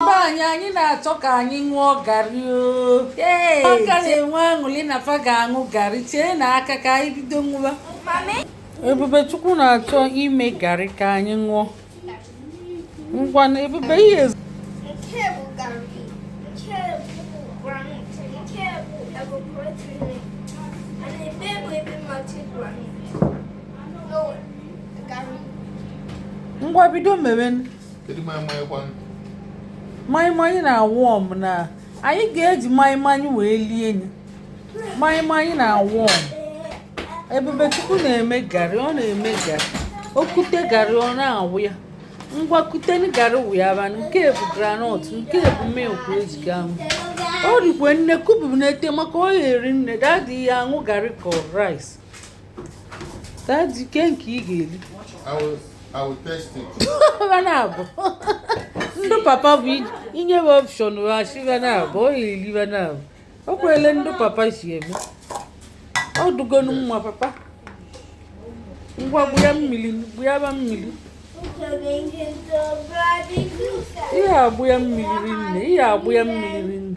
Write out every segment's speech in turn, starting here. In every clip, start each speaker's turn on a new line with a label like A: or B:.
A: be anyị anyị na-achọ ka anyị ṅụọ garị aka na-enwe aṅụrị na fa ga-aṅụ garị chee na aka ka anyị bido ṅụwa ebubechukwu na-achọ ime garị ka anyị ṅụọ ngwanụ ebube ihe ngwa bido mewe kedu maịmaị kwanụ maịmaị na-a warm na anyị ga-eji maịmaị wee lie enye maịmaị na-a warm ebubechukwu na-eme garị ọ na-eme garị o kute garị ọ na-awụ ya ngwa kuteni garị wụyaba nke bụ granọt nke bụ milk eji ga-aṅụ o rikwe nne kuburu n'ete maka ọ ya-eri nne dadi ya-aṅụ garị ka rice Daddy, ke nke ị ga-eri.
B: I will test it. Va
A: naabọ. Ndị papa bụ i nye va option va sị va naabọ, ọ ya-eri va naabọ. O kwele ndị papa si eme. Ọ dụgonu mma papa. Ngwa gbụya mmiri, gbụya ba mmiri. Ị ya-agbụya mmiri ri nne, ị ya-agbụya mmiri ri nne.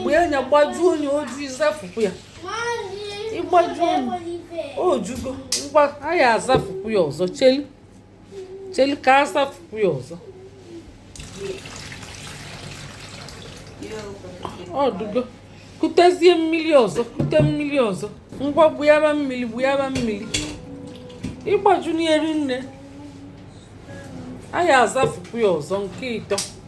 A: gbuya nya gbajuo enye oju ị zafukwu ya ị gbajuo enye o jugo ngwa anyị azafukwu ya ọzọ cheli cheli ka a zafukwu ya ọzọ ọ dụgo kutezie mmiri ọzọ kute mmiri ọzọ ngwa gbuyaba mmiri gbuyaba mmiri ịgbaju n'eri nne anyị azafukwu ya ọzọ nke ịtọ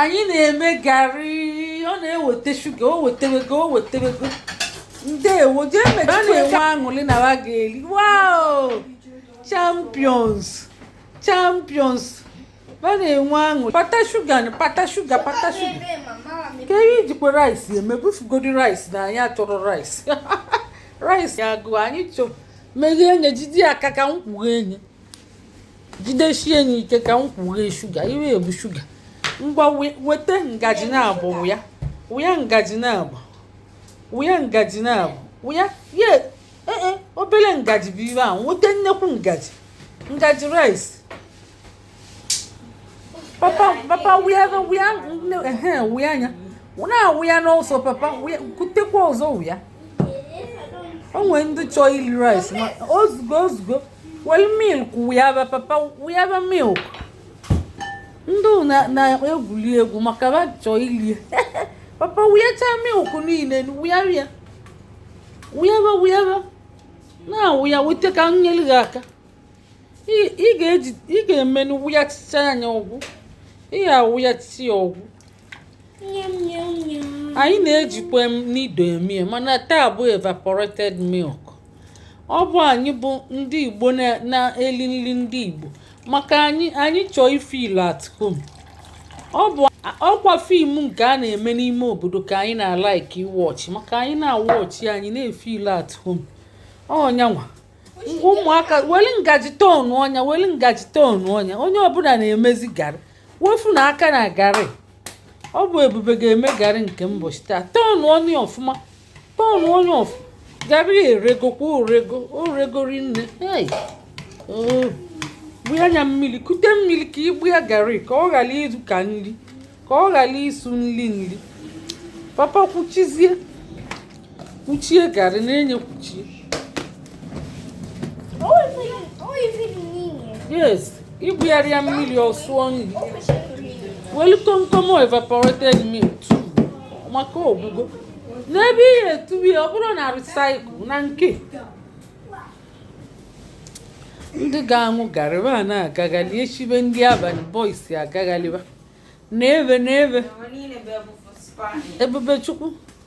A: anyị na-eme garị ọ na-ewete shuga o wetewego o wetewego ndewo jee a na-enwe aṅụrị na wa ga-eri wow champions champions wa na-enwe aṅụrị pata shuga na pata shuga pata shuga ke ihe i jikwa rice eme bufugodi rice na anyị achọrọ rice rice ya agụ anyị chọ meghee enye jide ya aka ka m kwughe enye jidesie ya ike ka m kwughe shuga iwe ebu shuga ngwa wete ngaji naabọ wụya wụya ngaji naabọ wụya ngaji naabọ wụya ye ee e, obere ngaji bụ ihe ahụ wete nnekwu ngaji ngaji rice papa papa wụya wụya wụya nya na-awụya n'ọsọ papa kutekwa ọzọ wụya o nwere ndị chọọ iri rice ma ozugbo ozugbo Weli milk wụyaba papa wụyaba milk. Ndị na na egwuli egwu maka ba chọọ ili ya. Papa wụyacha milk niile wụyaba ya. Wụyaba wụyaba. Na-awụya wete ka m nyeli gị aka. Ị ga-eji ị ga-eme n'ị wụyachicha nya ọgwụ. Ị ga-awụyachi ya ọgwụ. anyị na-ejikwa nido emie mana taa bụ evaporated milk ọ bụ anyị bụ ndị igbo na-eli nli ndị igbo maka anyị anyị chọọ ifeel at home ọ bụ ọkwa fim nke a na-eme n'ime obodo ka anyị na-alaiki iwọchị maka anyị na-awọchị anyị na-efeel at home oya ngwa ụmụaka weli ngaji tọnụọ nya weli ngaji tọnụọ nya onye ọbụla na-emezi garị wefụ na aka na garị ọ bụ ebube ga-eme garị nke mbọchị taa tọọnụọ nya ọfụma tọọnụọ nya ọfụma garị eregokwa o rego rinne gbuya nya mmili kute mmili ka i gbuya garị ka ọ ghara ịsụ ka nri ka ọ ghara ịsụ nri nri papa kwuchizie Kwuchie garị na-enye kwuchie. Yes, i gbuyarọ ya mmili ọ sụọ nri. Welu komkom evaporated milk tuo maka ọ gwụgo. N'ebe ị ya-etubi ọ bụrụ na recycle na nke. Ndị ga-aṅụ garị ba na-agaghalị eshibe ndị abalị boys agaghalịba. N'ebe n'ebe. Ebube Chukwu.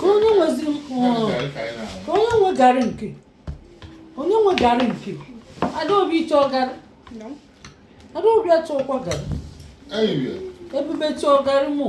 A: ka onye nwezi ka onye nwe garị nke onye nwe garị nke adaobi ị chọ
C: garị adaobi
A: achọkwa garị
B: ebube chọọ
A: garị mụ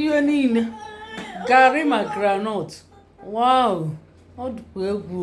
A: ihe niile garị ma granọt wow ọ dịkwa egwu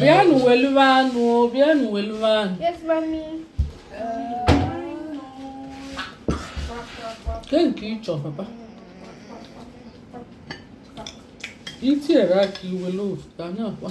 A: Bịanụ weliba anụ, bịanụ weliba anụ. Yes, mommy. Ke nke ị chọ, papa? I tinyere aka i welu ofu, ka anyị akwa.